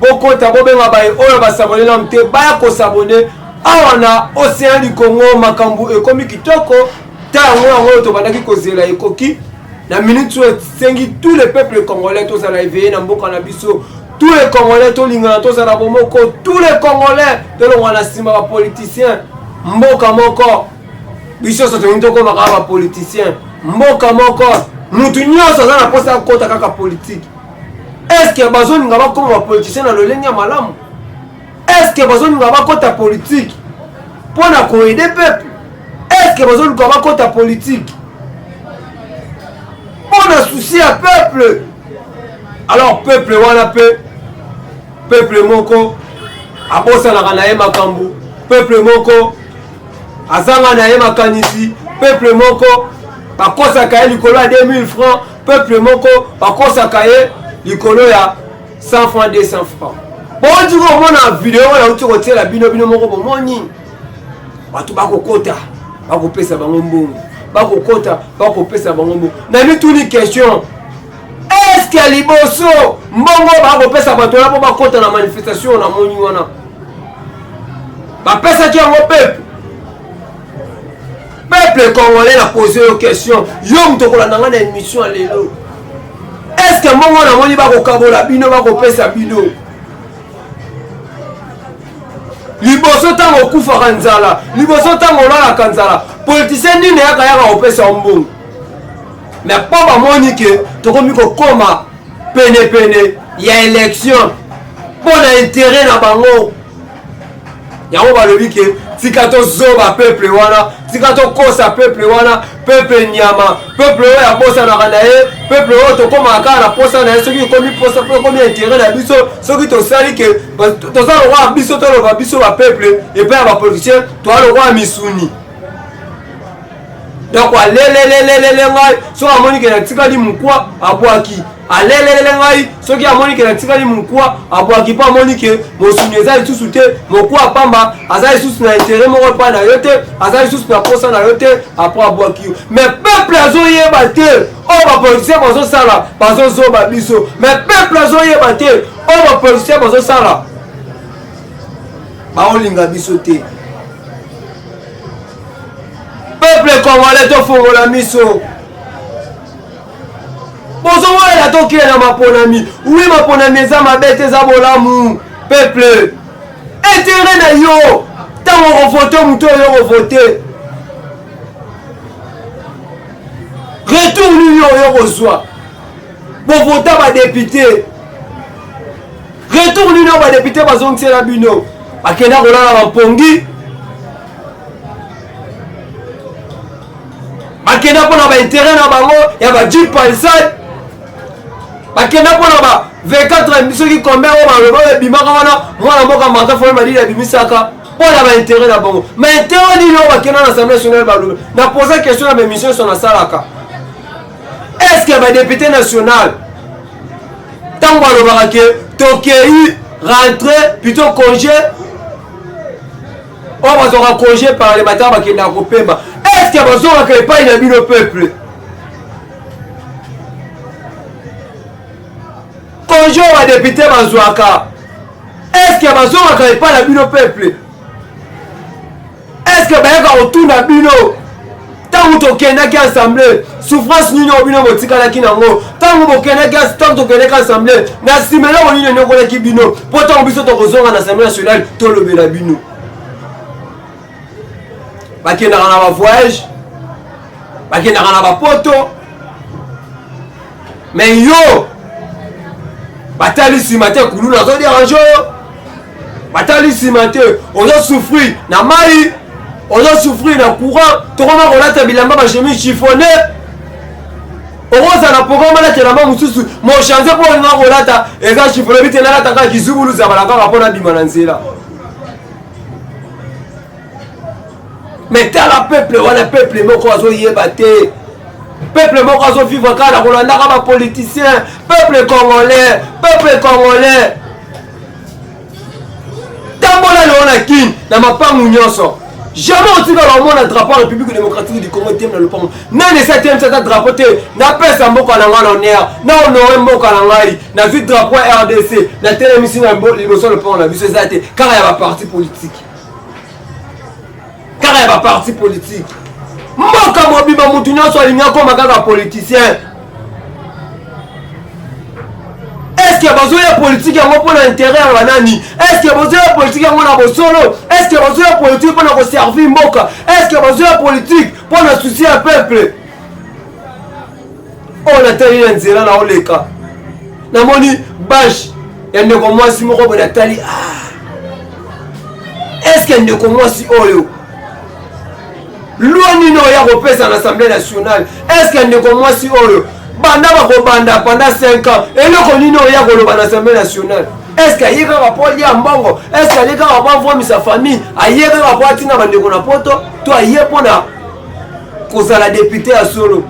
bokota bobenga baye oyo basabone nanu te baya kosabone awa na ocean du congo makambo ekomi kitoko ta yango yango oyo tobandaki kozela ekoki na minute oyo esengi tous les peuples congolais tozala eveye na mboka na biso tous les congolais tolingana tozala bomoko tous les congolais tolongwa na nsima bapoliticien mboka moko biso nyonso tolingi tokoma kaka bapoliticien mboka moko motu nyonso aza na mposa akota kaka politike eske bazolinga bakoma bapoliticien na lolenge ya malamu eske bazolinga bakota politike mpo na koede peuple eske bazolinga bakota politike mpo na susi ya peuple alors peuple wana mpe peuple moko abosanaka na ye makambo peuple moko azanga na ye makanisi peuple moko bakosaka ye likolo ya 2000 francs peuple moko bakosaka ye likolo ya 100 francs 200 francs bouti komona video oyo nauti kotiela bino bino moko bomoni bato bakokota bakopesa bango mbongo bakokota bakopesa bango mbongo na mituni question eske liboso mbongo bakopesa bato wana mpo bakota na manifestation namoni wana bapesaki yango pepe Peuple congolais na pose yo question, yo moto kolanda nga na émission ya lelo. Est-ce que mbongo na moni bakokabola bino bakopesa bino? liboso ntango okufaka nzala liboso ntango olalaka nzala politisien nini eyaka yaka kopesa mbongo me mpo bamoni ke tokomi kokoma penepene ya election mpo na intere na bango yango balobi ke tika tozoba peuple wana tika tokosa peuple wana peuple nyama peuple oyo abosanaka na ye peuple oyo tokomaka kaka na posa na ye soki ekomi posa mpo ekomi intere na biso soki tosali ke toza lokola biso toloba biso bapeuple epai ya bapoliticien toza lokola misuni donc alelelelelele ngai soki amoni ke natikali mokwa abwaki alelelele ngai soki amoni ke natikali mokwa abwaki mpo amoni ke mosuni eza lisusu te mokwa pamba aza lisusu na intere moko epai na yo te aza lisusu na mposa na yo te apres abwaki yo me peuple azoyeba te oyo bapolitisien bazosala bazozoba biso me peuple azoyeba te oyo bapolitisien bazosala baolinga biso te peuple congolais tofongola miso bozowelela tokila na maponami wi maponami eza mabe te eza bolamu peuple etere na yo ntango okovote moto oyo okovote retour nini oyo okozwa bovota badepute retour nini oyo badepute bazongisela bino bakenda kolala bampongi bakenda mpo na baintere na bango ya bajip palsade bakenda mpo na ba 24 soki kombe oyo baloba oyo ebimaka wana mwana mboka martin foye madidi abimisaka mpo na baintere na bango maintere nini oyo bakenda na assemblée nationale baloba na posa question na baémission nyonso nasalaka est ce que badepute nationale ntango balobaka ke tokei rentre plutôt congé oyo bazwaka congé parlementaire bakendaka kopema eske bazongaka epai na bino peuple congé oyo badepute bazwaka eske bazongaka epai na bino peuple eske bayaka kotuna bino ntango tokendaki assemble souffrance nini oyo bino botikalaki nango ntango bokendaki ntango tokendaki assemble na nsima eloko nini enyokolaki bino mpo ntango biso tokozonga na assemble nationale tolobela bino bakendaka na bavoyage bakendaka na bapoto me yo batali nsima te kuluna azoderange oyo batali nsima te ozo souffrir na mai ozo souffrir na courant tokoma kolata bilamba bachemi chifone okozala programme alata elamba mosusu mochange mpo olinga kolata eza chifone bite nalata kaka kizubulu zabala kaka mpo nabima na nzela mais tala peuple wana peuple moko azoyeba te peuple moko azovivre kaka na kolandaka bapoliticien peuple congolais peuple congolais tambola lelo na kin na mapangu nyonso jamais otikala omona drapeau ya république démocratique du congo etemi na lopango nani esi atemisa ata drapeau te napesa mboka na ngai na honneur na honore mboka na ngai nazwi drapeau ya rdc natelemisi na liboso ya lopango na biso eza te kaka ya baparti politique kaka ya baparti politike mboka mobimba motu nyonso alingi akoma kaka politicien eske bazoya politike yango mpo na intere ya banani eske bazoya politike yango na bosolo eske bazoya politike mpo na koservir mboka eske bazoya politike mpo na susi ya peuple oyo natali na nzela na oleka namoni bashe ya ndeko mwasi moko boye natali ah. eske ndeko mwasi oyo lwa nini oyo ya kopesa na assemblée nationale eske ndeko mwasi oyo banda bakobanda panda 5 ans eloko nini oyo ya koloba na assemblée nationale eske aye kaka mpo alia mbongo eske alie kaka mpo avomisa famille aye kaka mpo atina bandeko na poto to aye mpo na kozala depute ya solo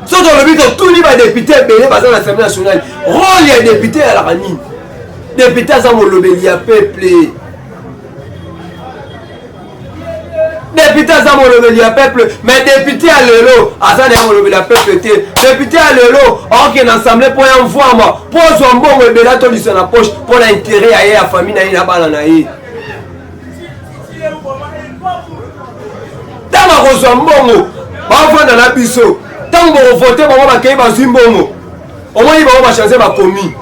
so tolobi totuni badepute ebele baza na assemblée nationale role ya depute eyalaka nini depute aza molobeli ya peuple depute aza molobeli ya peuple mais depute ya lelo aza na ye molobeli ya peuple te depute ya lelo aoke na assemblée mpo ya mvwama mpo ozwa mbongo ebele atolisa na poche mpo na intere ya ye ya famille na ye na bana na ye ntango akozwa mbongo bavanda na biso ntango bokovote bango bakei bazwi mbongo omoni bango bachanze bakomi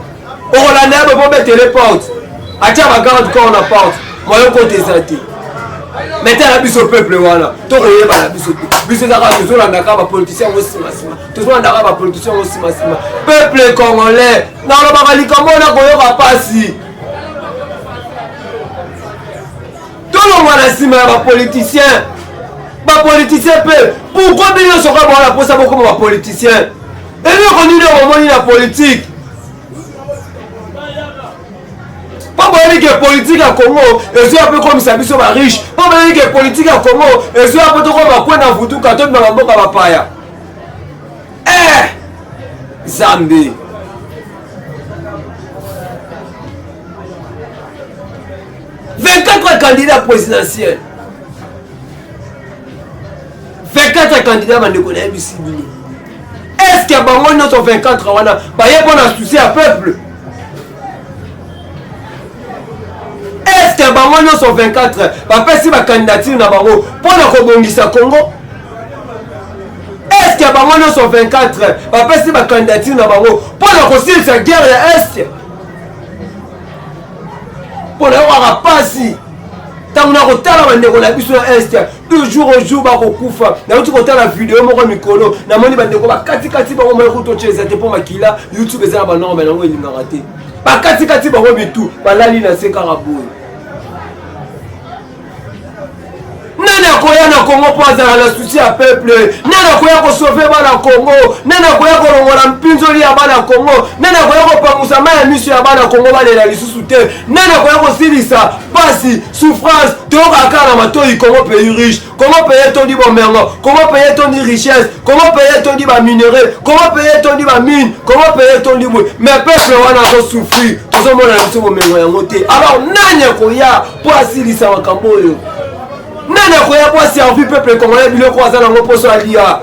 okolanda yabe mpo betele porte atya bagarde corps na porte moyo kota eza te metala biso peuple wana tokoyeba na biso te biso ezaka tozolandaka bapoliticien yango simasima tozolandaka bapoliticien yango simasima peuple congolais nalobaka likambo wana koyoka mpasi tolongwa na nsima ya bapoliticien bapoliticien mpe pourkoi bino nyonso kaka bawana mposa bokoma bapoliticien eloko nini oyo bomoni na politike mpo boyebi ke politike ya congo ezoya mpe ekomisa biso bariche mpo boyebi ke politike ya congo ezoya mpo tokoma bakwe na vutuka tobima bamboka bapaya eh zambi 24 candidat présidentiel 24 candidat bandeko nayebisi bino eske ya bango nyonso 24 wana baye mpo na souci ya peuple eske ya bango nyonso 24 bapesi bakandidature na bango mpo na kobongisa congo eske bango nyonso 24 bapesi bakandidature na bango mpo na kosilisa guerre ya este mpo na yokaka mpasi ntango nakotala bandeko na biso ya este de jour au jour bakokufa nauti kotala video moko mikolo namoni bandeko bakatikati bango mai kutotya eza te mpo makila youtube eza na banorme yango elingaka te bakatikati bango bitu balali na se kaka boye nani akoya na kongo mpo azala na susi ya peuple nani akoya kosove bana kongo nani akoya kolongola mpinzoli ya bana kongo nani akoya kopangusa mai ya miso ya bana kongo balela lisusu te nani akoya kosilisa mpasi souffrance toyokaka kaka na matoi kongo pays riche kongo pays etondi bomengo kongo pays etondi richesse kongo pays etondi baminerai kongo pays etondi bamine kongo pays etondi bwe mais peuple wana azosouffrir tozomona na biso bomengo yango te alors nani akoya mpo asilisa makambo oyo nani akoya mpo aservi peuple congolais biloko aza nango mposo alia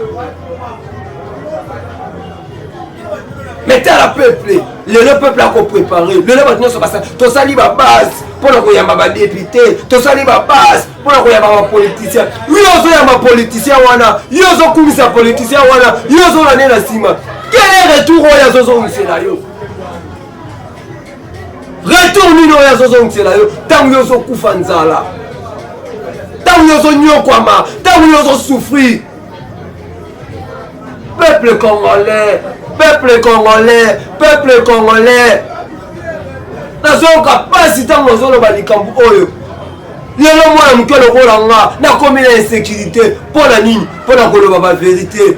me tala peuple lelo peuple akoprepare lelo bato nyonso basali tosali babase mpo na koyamba badepute tosali babase mpo na koyamba bapoliticien yo ozoyamba politicien wana yo ozokumisa politicien wana yo ozolande na nsima kele retour oyo azozongisela yo retour nini oyo azozongisela yo ntango yo ozokufa nzala ntango yo ozonyokwama ntango yo ozosouffrir peuple congolais peuple congolais peuple congolais nazoyoka mpasi ntango nazoloba likambo oyo lelo mwana moke lokola nga nakomi na insécurité mpo na nini mpo na koloba baverité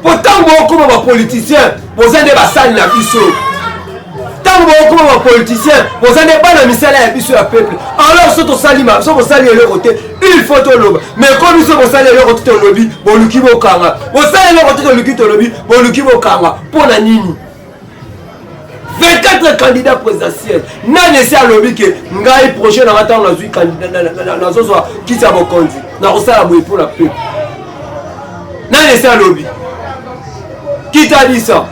mpo ntango bokoma bapoliticien boza nde basali na biso ntango bokoma bapoliticien boza nde bana misala ya biso ya peuple alors so tosali so bosali eloko te il faut toloba mais ko biso bosali eloko te tolobi boluki bokanga bosali eloko te toluki tolobi boluki bokanga mpo na nini 24 candidat présidentiel nani esi alobi ke ngai projet nanga ntango nazwi nazozwa kiti ya bokonzi nakosala boye mpo na peuple nani esi alobi kitalisa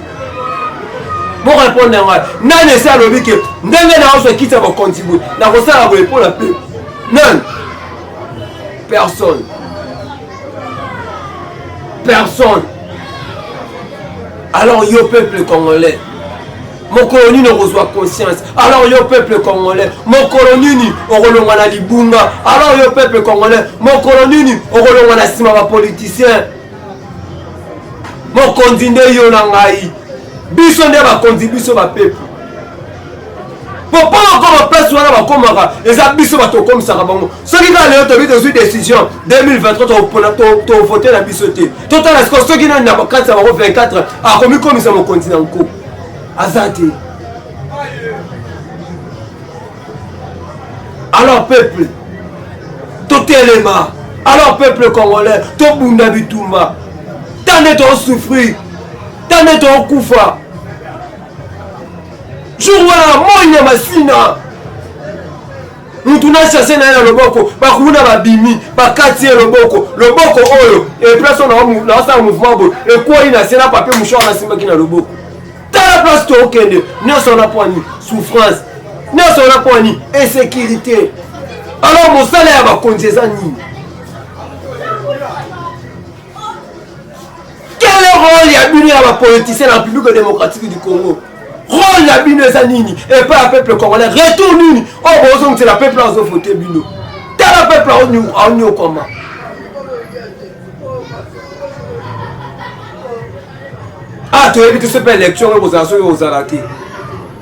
borepondre ngai nani esi alobi ke ndenge naozwa kiti ya bokonzi boye nakosala boye mpo na peuple nani personne personne alors yo peuple congolais mokolo nini okozwa conscience alors yo peuple congolais mokolo nini okolongwa na libunga alors yo peuple congolais mokolo nini okolongwa na nsima bapoliticien mokonzi nde yo na ngai biso nde bakonzi biso bapeple po mpo bakoma place wana bakomaka eza biso bato okomisaka bango soki kaka lelo tobi tozwi décision 2023 tovote na biso te totala siko soki nani na kati ya bango 24 akomikomisa mokonzi na nko aza te alors peuple totelema alors peuple congolais tobunda bitumba ta nde toosouffrir ta nde tookufa jour wana moi ya masina mutu na chasse na ye na loboko bakuna babimi bakati ye loboko loboko oyo eplace oyo naosala mouvement boye ekwei na se na papier mouchoir nasimbaki na loboko tala place tookende nyonso wana pwani souffrance nyonso wana pwani insécurité alors mosala ya bakonzi eza nini Quel est rôle ya bino ya ba politiciens na République démocratique du Congo? Rôle ya bino eza nini? Et pas ya peuple congolais. Retour nini? Oh bozo ngitela peuple azo voter bino. Tala peuple aonyo aonyo koma. Ah toyebi tout ce pe élection oyo bozala soki ozala te.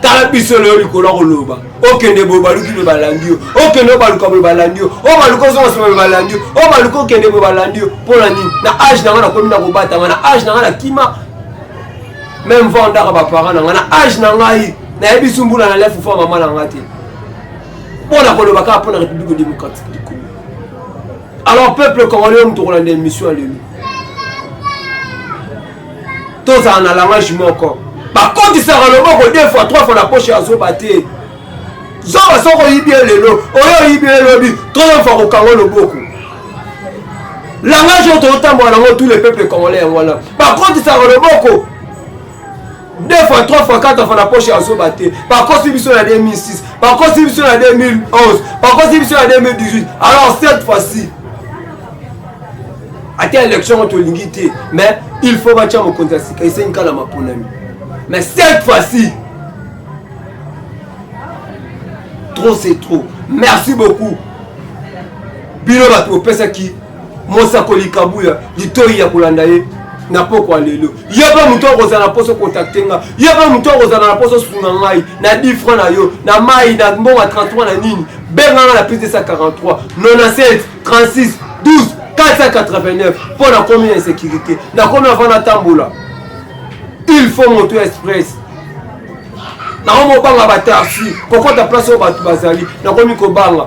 tala biso lelo likolo ya koloba okende boye baluki mpe balandi yo okende obaluka boye balandi yo obaluka ozonga nsima mpe balandi yo obaluka okende boye balandi yo mpo na nini na age na ngai nakomi na kobatama na age na ngai na kima meme va ondaka baparent na ngai na age na ngai nayebisi mbula na lefu fa mama na ngai te mpo na koloba kaka mpo na république démocratique du congo alors peuple congolais oyo motokolanda émission ya lelo tozala na langage moko bakotisaka loboko deux fois trois fois na poche ya zoba te zoba soko oyibi ye lelo oyo oyibi ye lobi troisième fois kokanga loboko langage oyo tozotambola nango tous les peuples congolais yango wana bakotisaka loboko deux fois trois fois quatre fois na poche ya zoba te bakosi biso na 2006 bakosi biso na 2011 bakosi biso na 2018 alors cette fois-ci ata élection ngo tolingi te mais il faut batya mokonzi ya sika esengi kala maponami mais cette fois-ci trop c'est trop merci beaucoup bino bato bopesaki mosakoli kabuya litoi ya kolanda ye na pokwa lelo ye mpe moto akozala na poso kontakte nga ye mpe moto akozala na poso sunga ngai na 10 franc na yo na mai na mbongo ya 33 na nini benga nga na plus 243 97 36 12 489 mpo nakomi na insécurité nakomi avant natambola il faut moto ya express nakomi kobanga batarsi kokota place oyo bato bazali nakomi kobanga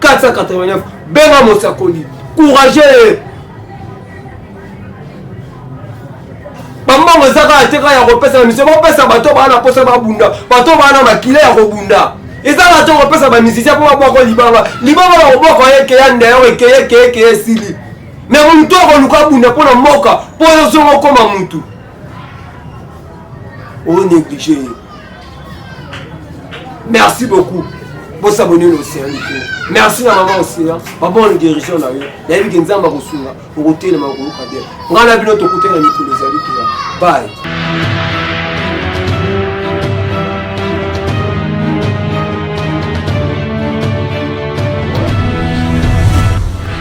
489 benga mosakoli courageux bambongo eza kaka te kaka ya kopesa na misio bopesa bato baa na mposa babunda bato baa na makila ya kobunda eza kaka te kopesa bamisisia mpo babwako libanga libanga na kobwaka ekeya ndeyao ekeye ekeye ekeye esili me moto akoluka abunda mpo na mboka mpo yo zongo okoma motu o néglige ye merci beaucoup bosabone na océan likolo merci na mama océan babone guérison na yo nayebi ke nzambe akosunga okotelema okoyoka bien ngai na bino tokutana mikolo ezali kila baye